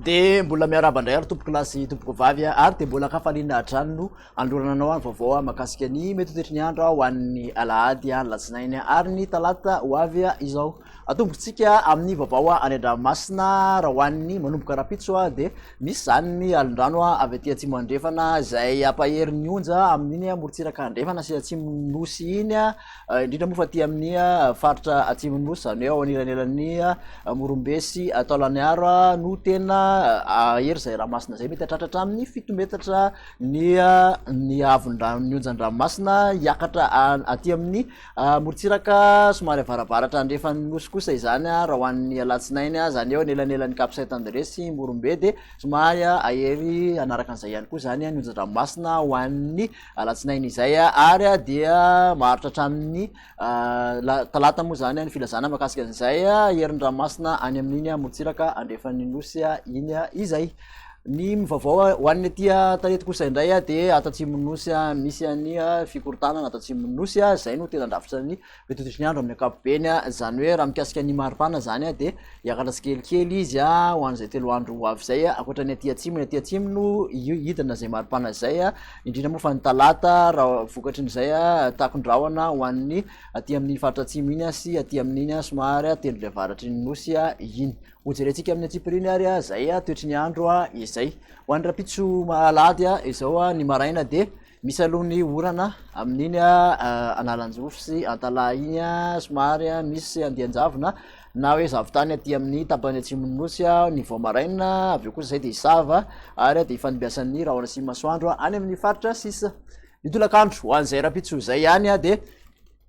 dia mbola miaraba indray ary tompoko lasy tompoko vavy ary dia mbola kafaliana hatrany no anolorana anao any vaovao makasika ny mety toetry ny andro ho an'ny alahady alatsinainy ary ny talata ho avy izao Atombokantsika amin'ny vaovao any an-dranomasina raha ho an'ny manomboka rahampitso dia misy izany ny alin-drano avy aty atsimo andrefana izay hampahery ny onja amin'iny amorontsiraka andrefana sy atsimon'ny nosy iny, indrindra moa fa aty amin'ny faritra atsimon'ny nosy izany hoe ao anelanelan'ny Morombe sy Taolagnaro no tena hahery izay ranomasina izay, mety hahatratra hatramin'ny fito metatra ny ny haavon'ny rano ny onjan-dranomasina hiakatra aty amin'ny Amorontsiraka somary avarabaratra andrefan'ny Nosy kosa izany raha ho an'ny alatsinainy, izany eo anelanelan'i Cap Saint André sy Morombe dia somary hahery hanaraka an'izay ihany koa izany ny onjan-dranomasina ho an'ny alatsinainy izay ary dia maharitra hatramin'ny talata moa izany ny filazana makasika an'izay herin'ny ranomasina any amin'iny amorontsiraka andrefan'ny Nosy iny izay. Ny mivavao ho an'ny aty Antalety kosa indray de ato Atsimon'ny Nosy misy an'ny fikorontanana ato Atsimon'ny Nosy, zay no tena drafitra ny fitototriny andro amin'ny ankapobeny, zany hoe raha mikasika ny maripana zany de hiakatra tsikelikely izy ho an'izay telo andro ho avy zay, ankoatra ny aty Atsimo, ny aty Atsimo no hidina zay maripana zay, indrindra moa fa ny talata raha vokatry ny zay takondrahona ho an'ny aty amin'ny faritra Atsimo iny sy aty amin'iny somary tendrony avaratry ny Nosy iny. Hojerentsika amin'ny antsipiriany ary izay toetry ny andro izay. Ho an'ny rahampitso alahady izao ny maraina dia misy aloha ny orana amin'iny analanjofy sy antalaha iny somary misy andian-javona na hoe zavon-tany aty amin'ny tapany atsimon'ny nosy ny vao maraina avy eo kosa izay dia hisava ary dia hifandimbiasan'ny rahona sy masoandro any amin'ny faritra sisa ny tolakandro ho an'izay rahampitso izay ihany dia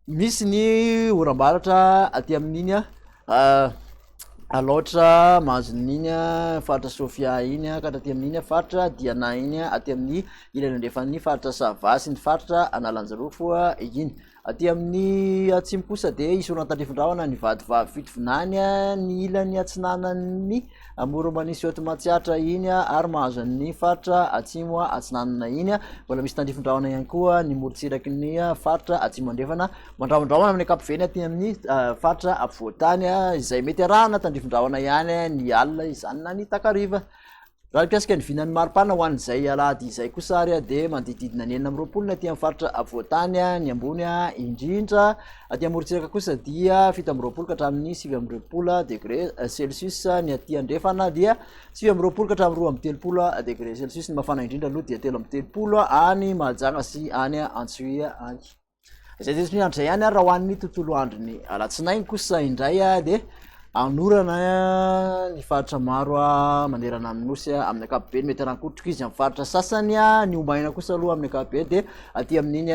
Misy ny oram-baratra aty amin'iny a, Alaotra, Manzonina iny a, faritra Sofia iny a, ka hatraty amin'iny a, faritra Diana iny a, aty amin'ny ilany andrefan'ny faritra Sava sy ny faritra Analanjirofo a, iny. Aty amin'ny atsimo kosa dia hisoroana an-tandrifin-drahona ny vadivavy Fitovinany a, ny ilany atsinanan'ny Amoron'i Manisy eto Matsiatra iny ary mahazo an'ny faritra atsimo atsinanana iny. Mbola misy tandrifin-drahona ihany koa ny morontsiraky ny faritra atsimo andrefana mandrahondrahona amin'ny ankapobeny aty amin'ny ah, faritra afovoantany ah, izay mety arahana tandrifin-drahona ihany ny alina izany na ny takariva. Raha ny mpiasika ny vinan'ny maripana ho an'izay alahady izay kosa ary dia manodididina ny enina amby roapolo ny aty amin'ny faritra afovoantany ny ambony indrindra Aty amorontsiraka kosa dia fito amby roapolo ka hatramin'ny sivy amby roapolo degré celsius ny aty andrefana dia sivy amby roapolo ka hatramin'ny roa amby telopolo degré celsius ny mafana indrindra aloha dia telo amby telopolo any mahajanga sy any antsoia any izay zay tsy miandry izay ihany ary raha ho an'ny tontolo andro ny alatsinainy kosa indray dia Anorana ny faritra maro manerana ny Nosy amin'ny ankapobeny, mety hanankotrika izy amin'ny faritra sasany, ny ombaina kosa aloha amin'ny ankapobeny dia aty amin'iny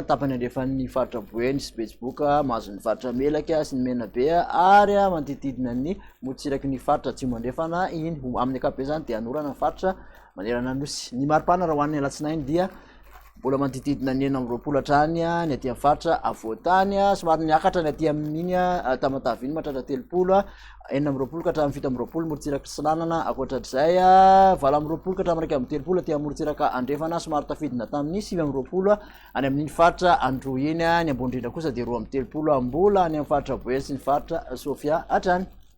tapany andrefan'ny faritra Boeny sy Betsiboka mahazo ny faritra Melaky sy ny Menabe ary manodidididina ny motsiraky ny faritra Atsimo andrefana iny, amin'ny ankapobeny izany dia anorana ny faritra manerana ny Nosy. Ny maripana raha ho an'ny alatsinainy dia Mbola manodidididina ny enina amby roapolo hatrany ny aty amin'ny faritra avoantany. Somary niakatra ny aty amin'iny Tamatave iny mahatratra telopolo, enina amby roapolo ka hatramin'ny fito amby roapolo morontsiraka Atsinanana, ankoatr'izay valo amby roapolo ka hatramin'ny iraika amby telopolo aty amin'ny morontsiraka Andrefana, somary tafidina tamin'ny sivy amby roapolo any amin'iny faritra Androy iny. Ny ambony indrindra kosa dia roa amby telopolo, mbola any amin'ny faritra Boeny sy ny faritra Sofia hatrany.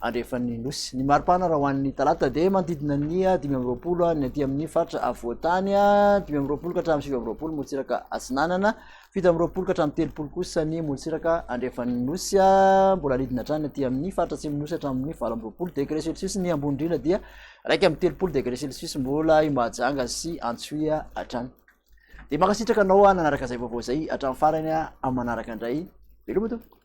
andrefan'ny Nosy. Ny mari-pana raha ho an'ny Talata dia manodidina ny dimy amby roapolo ny aty amin'ny faritra afovoan-tany, dimy amby roapolo ka hatramin'ny sivy amby roapolo morotsiraka atsinanana, fito amby roapolo ka hatramin'ny telopolo kosa ny morotsiraka andrefan'ny Nosy, mbola alidina hatrany aty amin'ny faritra atsimon'ny Nosy hatramin'ny valo amby roapolo degré celsius ny ambony indrindra dia raika amby telopolo degré celsius mbola i Mahajanga sy Antsohihy hatrany. Dia mankasitraka anao nanaraka izay vaovao izay hatramin'ny farany amin'ny manaraka indray. Veloma tompoko.